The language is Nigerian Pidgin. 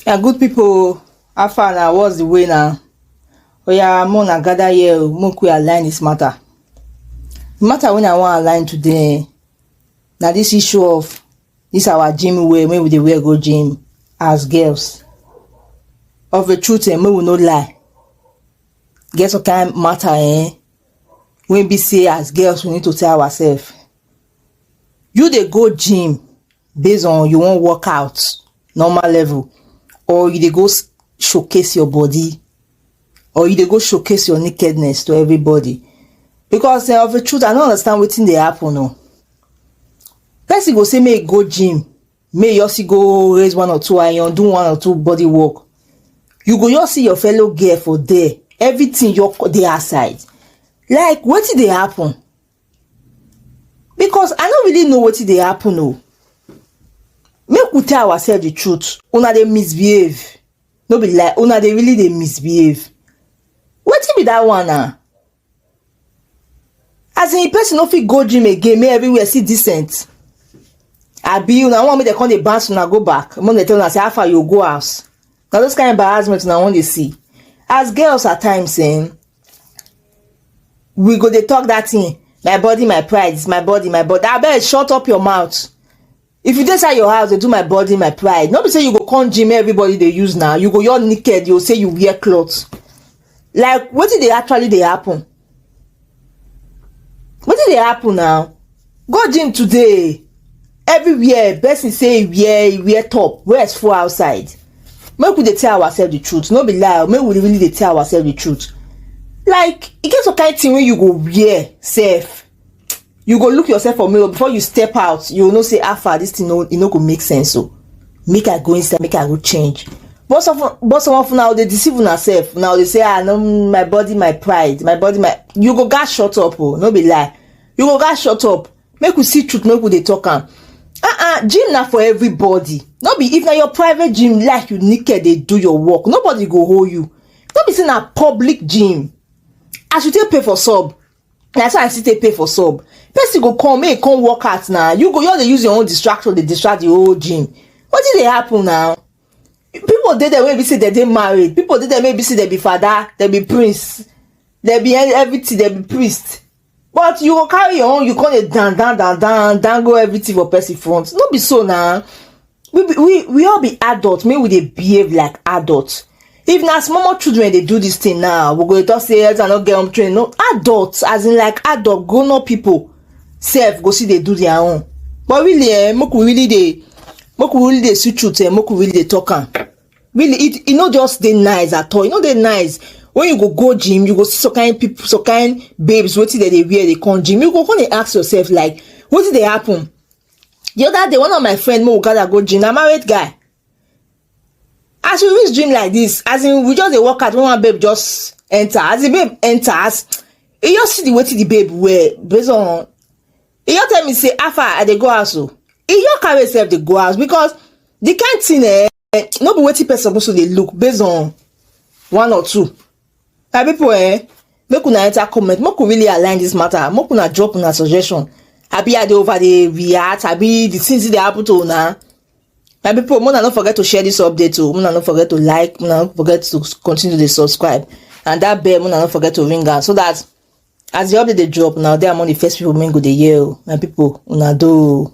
na good people how far na what's the way na oya mo na gather here o mo quick align this matter the matter wey i wan align today na this issue of This our gym wear wey we dey wear go gym as girls. Of a truth eh, make we no lie. Get some kind matter eh, wey be say as girls we need to tell ourselves. You dey go gym based on you wan work out normal level or you dey go s- showcase your body or you dey go showcase your nakedness to everybody because eh, of the truth i no understand wetin dey happen o person go say make e go gym make e also go raise one or two iron do one or two body work you go just see your fellow girl for there everything your dey her side like wetin dey happen because i no really know wetin dey happen o make we tell ourselves the truth una dey misbehave no be lie una dey really dey misbehave wetin be that one na as in person no fit go gym again make everywhere see decent abi una wan make dem come dey bounce una go back make dem tell una say how far you go house na those kind embarrassment una wan dey see as girls at times eh, we go dey talk that thing my body my pride is my body my body abeg shut up your mouth if you dey inside your house dey do my body my pride no be say you go come gym everybody dey use now you go your naked you go say you wear cloth like wetin dey actually dey happen wetin dey happen now go gym today everywhere person say e wear e wear top rest full outside make we dey tell ourselves the truth no be lie make we really dey tell ourselves the truth like e get some kind thing wey you go wear sef you go look yourself for mirror before you step out you know say how far this thing no e no go make sense so oh. make i go inside make i go change but some but some of una dey deceive una sef una dey say ah no my body my pride my body my you go gats shut up o oh, no be lie you go gats shut up make we see truth make we dey talk am ah ah gym na for everybody no be if na your private gym like you naked dey do your work nobody go hold you no be say na public gym as you take pay for sub na so i still take pay for sub person go come make e come work out na you go just dey use your own distraction dey distract the whole gym wetin dey happen na people dey there wey be say dem dey married people dey there wey be say dem be father dem be prince dem be e- everything dem be priest but you go carry your own you come dey dan dan dan dan dango everything for person front no be so na we be we we all be adult make we dey behave like adult if na small small children dey do this thing now we go dey talk say elder no get home training no adult as in like adult grown up people sef go still dey do their own but really eh make we really dey make we really dey see truth eh make we really dey talk am really it e no just dey nice at all e no dey nice when you go go gym you go see some kind people some kind babes wetin dem dey wear dey come gym you go come dey ask yourself like wetin dey happen the other day one of my friend make we gather go gym na married guy as we reach gym like this as in we just dey work out when one babe just enter as the babe enter as e just see the wetin the babe wear based on e just tell me say how far i dey go house o e just carry himself dey go house because the kind thing eh no be wetin person suppose to dey look based on one or two my people eh make una enter comment make we really align this matter make una drop una suggestion abi i dey over dey react abi the things dey happen to una my people una no forget to share this update o una no forget to like una no forget to continue dey subscribe and that bell una no forget to ring am so that as the update dey drop una dey among the first people wey go dey hear o my people una do o.